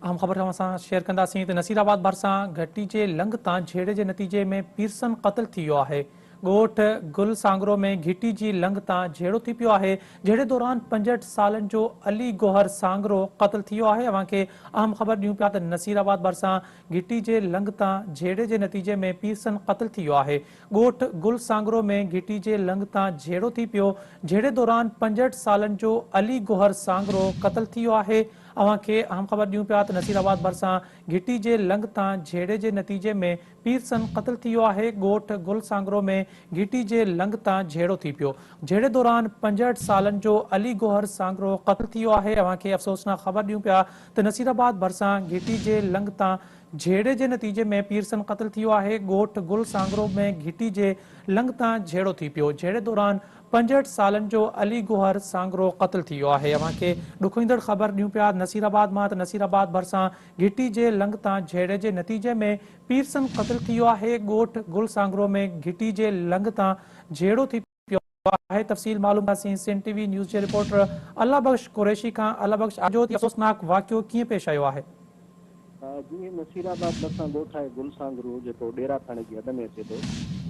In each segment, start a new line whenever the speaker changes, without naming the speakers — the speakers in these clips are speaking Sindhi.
اهم خبر توهان سان شيئر ڪنداسين ته نصير آباد ڀرسان گهٽي جي لنگهه تان جهيڙي جي نتيجي ۾ پيرسن قتل ٿي ويو آهي ڳوٺ گل سانگرو ۾ گهٽي جي لنگهه تان جهيڙو ٿي پيو آهي جهيڙي دوران پنجهٺ سالن جو علي گوهر سانگرو قتل ٿي ويو آهي اوهان کي اهم خبر ڏيون پيا ته نصير آباد ڀرسان گهٽي جي لنگهه تان جهيڙي جي نتيجي ۾ پيرسن قتل ٿي ويو آهي ڳوٺ گل سانگرو ۾ گهٽي جي لنگهه تان جهيڙو ٿي پيو، جهيڙي دوران پنجهٺ سالن جو علي گوهر سانگرو قتل ٿي ويو آهي، اوهان کي اهم خبر ڏيون پيا ته نصير آباد ڀرسان گهٽي جي لنگهه تان جهيڙي جي نتيجي ۾ پيرسن قتل ٿي ويو آهي، ڳوٺ گل سانگرو ۾ گهٽي جي لنگهه تان جهيڙو ٿي پيو، جهيڙي دوران پنجهٺ سالن جو علي گوهر سانگرو قتل ٿي ويو آهي، اوهان کي افسوسناڪ خبر ڏيون پيا ته نصير آباد ڀرسان گهٽي جي لنگهه تان جهيڙي جي نتيجي ۾ پيرسن قتل ٿي ويو آهي، ڳوٺ گل سانگرو ۾ گهٽي جي لنگهه تان جهيڙو ٿي پيو، جهيڙي دوران پنجهٺ سالن جو علي گوهر سانگرو قتل ٿي ويو آهي، اوهان کي ڏکوئيندڙ خبر ڏيون پيا نصير آباد مان ته نصير آباد ڀرسان گهٽي جي لنگهه تان جهيڙي جي نتيجي ۾ پيرسن قتل ٿي ويو آهي، ڳوٺ گل سانگرو ۾ گهٽي جي لنگهه تان جهيڙو ٿي پيو آهي تفصيل معلوم ڪنداسين سنڌ ٽي وي نيوز جي رپورٽر الله بخش قريشي کان الله بخش اڄ جو هي افسوسناڪ واقعو ڪيئن پيش آيو آهي. جي
نصير آباد ڀرسان ڳوٺ آهي گل سانگرو جيڪو ڏيرا ٿاڻي جي حد ۾ اچي ٿو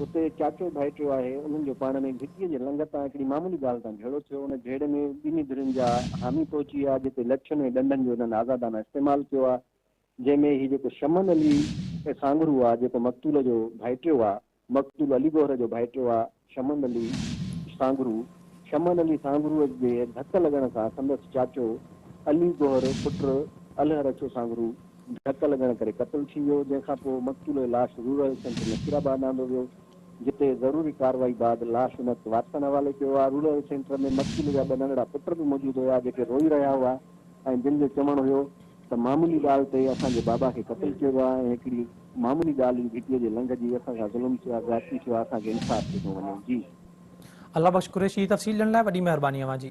اتي چاچو ڀائٽيو آهي انهن جو پاڻ ۾ گهٽي جي لنگهه تان هڪڙي معمولي ڳالهه تان جهيڙو ٿيو ان جهيڙي ۾ ٻنهي ڌرين جا حامي پهچي ويا جتي لٺين ۽ ڏنڊن جو انهن آزادانه استعمال ڪيو آهي جنهن ۾ هي جيڪو شمن علي سانگرو آهي جيڪو مقتول جو ڀائٽيو آهي مقتول علي گوهر جو ڀائٽيو آ شمن علي سانگرو، شمن علي سانگرو جي ڌڪ لڳڻ سان سندس چاچو علي گوهر پٽ الهر اڇو سانگرو ڌڪ لڳڻ ڪري قتل ٿي ويو جنهن کان پوء مقتول جي لاش rural health centre Nasirabad آندو ويو جتي ضروري ڪارروائي بعد لاش ان وقت وارثن حوالي ڪيو آ رورل هيلٿ سينٽر ۾ مقتول جا ٻه ننڍڙا پٽ به موجود هيا جيڪي روئي رهيا هئا ۽ جن جو چوڻ هيو ته معمولي ڳالهه تي اسان جي بابا کي قتل ڪيو ويو آهي ۽ هڪڙي معمولي ڳالهه جي ڀٽي جي لنگهه جي اسان سان ظلم ٿيو آهي زيادتي ٿيو آهي اسان کي انصاف
ڏنو
وڃي جي.
الله
بخش
قريشي تفصيل ڏيڻ
لاء
وڏي
مهرباني اوهان جي.